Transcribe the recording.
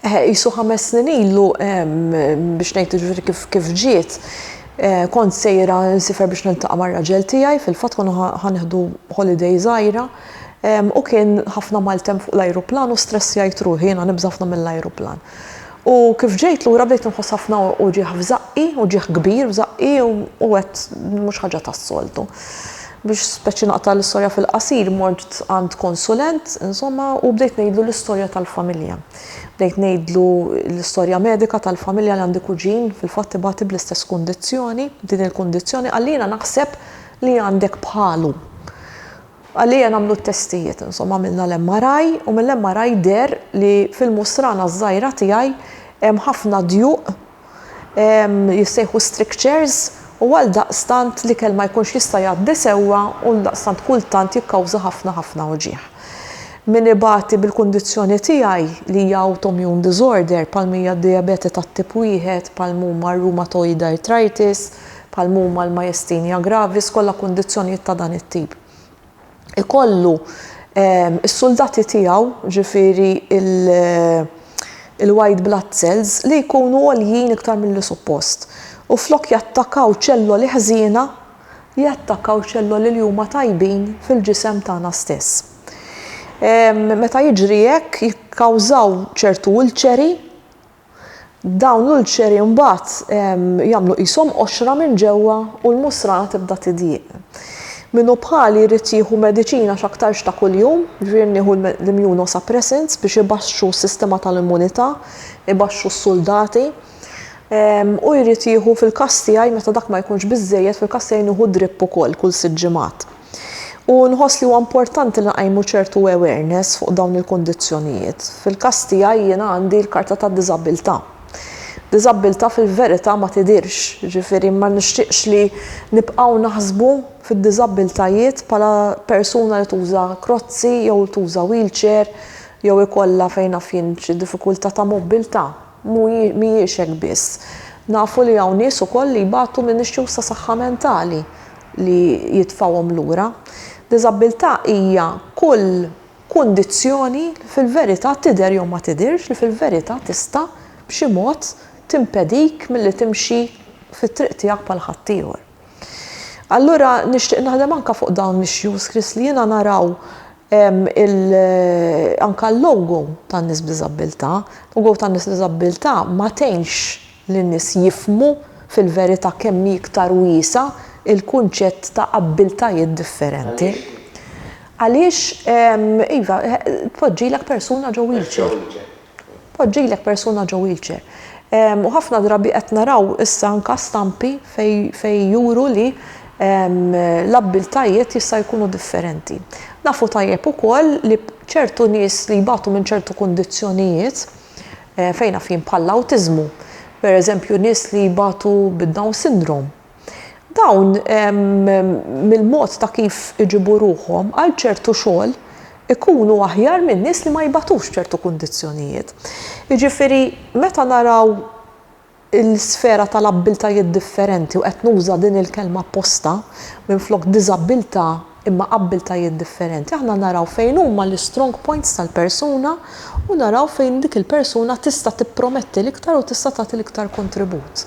Qisu ħames snin ilu, biex ngħid jiġifieri kif kif ġiet, kont sejra nsifer biex niltaqa' mar-raġel tiegħi, fil-fatt konna ħa nieħdu holiday żgħira, u kien ħafna maltemp fuq l-ajruplan u stressjajt ruħi, jiena nibża' ħafna mill-ajruplan. U kif ġejt lura bdejt inħoss ħafna uġigħ f'żaqqi, uġigħ kbir f'żaqqi u għedt mhux ħaġa tas-soltu. Biex speċi naqta' l-istorja fil-qasir, mort għand konsulent, insomma, u bdejt ngħidlu l-istorja tal-familja. Bdejt ngħidlu l-istorja medika tal-familja li għandi kuġin fil-fatt ibati bl-istess kundizzjoni, din il-kundizzjoni għalina naħseb li għandek bħalu. Għalija nagħmlu t-testijiet, insomma, għamilna l-MRI u mill-MRI deher li fil-musrana ż-żgħira tiegħi hemm ħafna djuq jissejħu strictures u għaldaqstant l-ikel ma jkunx jista' jgħaddi sewwa u għaldaqstant kultant jikkawża ħafna ħafna uġigħ. Min ibati bil-kundizzjoni tiegħi li hija autoimmune disorder bħal mija d-dijabete tat-tip wieħed bħal m'huma r-rheumatoid arthritis bħal m'huma l-myasthenia gravis kollha kundizzjonijiet ta' dan it-tip. ikollu s-suldati tiegħu, ġifieri il-white blood cells, li jkunu għoljin iktar milli suppost. U flok jattakaw ċelloli ħżiena, jattakaw ċelloli li huma tajbin fil-ġisem tagħna stess. Meta jiġri hekk jikkawżaw ċertu ulċeri Dawn l-ulċeri mbagħad jagħmlu qishom qoxra minn ġewwa u l-musrana tibda tidjieq. Min hu bħali jrid jieħu mediċina x'aktarx ta' kuljum, jiġifieri nieħu l-immunosuppressants biex ibaxxu s-sistema tal-immunità, ibaxxu s-suldati. U jrid jieħu fil-każ tiegħi meta dak ma jkunx biżżejjed, fil-każ tiegħi nieħu drip ukoll kull sitt ġimgħat. U nħoss li huwa importanti li nqajmu ċertu awareness fuq dawn il-kundizzjonijiet. Fil-każ tiegħi jiena għandi l-karta ta' diżabilità. Diżabilità fil-verità ma tidirx, ġifieri ma nixtieqx li nibqgħu naħsbu fid-diżabilitajiet bħala persuna li tuża krozzi jew tuża wheelchair jew ikollha fejn naf jien xi diffikultà ta' mobbiltà. Mhijiex hekk biss. Nafu li hawn nies ukoll li jbatu minn issues ta' saħħa mentali li jitfgħuhom lura. Diżabbiltà hija kull kundizzjoni li fil-verità tidher jew ma tidhirx li fil-verità tista' b'xi mod timpedik milli timxi fit-triq tiegħek bħal ħaddieħor. Allura nixtieq naħdem anka fuq dawn l-issues Chris li jiena naraw anka l-logo tan-nies b'diżabbiltà. Logo tan-nies b'diżabbiltà ma tgħinx lin-nies jifhmu fil-verità kemm hi iktar wiesgħa l-kunċett ta' abbiltajiet differenti. Għaliex? Għaliex, iva, tpoġġilek persuna ġo wheelchair. Tpoġġilek persuna ġo wheelchair. U ħafna drabi qed naraw issa anka stampi fejn juru li l-abbiltajiet jista' jkunu differenti. Nafu tajjeb ukoll li ċertu nies li jbatu minn ċertu kundizzjonijiet, fejn naf jien bħall-awtiżmu, pereżempju nies li jbatu bid-Down Syndrome, Dawn, mill-mod ta' kif iġibu ruħhom għal ċertu xogħol, ikunu aħjar minn nies li ma jbatux b'ċertu kundizzjonijiet. Jiġifieri, meta naraw l-isfera tal-abbiltajiet differenti, u qed nuża din il-kelma apposta, minflok diżabbiltà imma abbiltajiet differenti, aħna naraw fejn huma l-istrong points tal-persuna u naraw fejn dik il-persuna tista' tipprometti l-iktar u tista' tagħti l-iktar kontribut.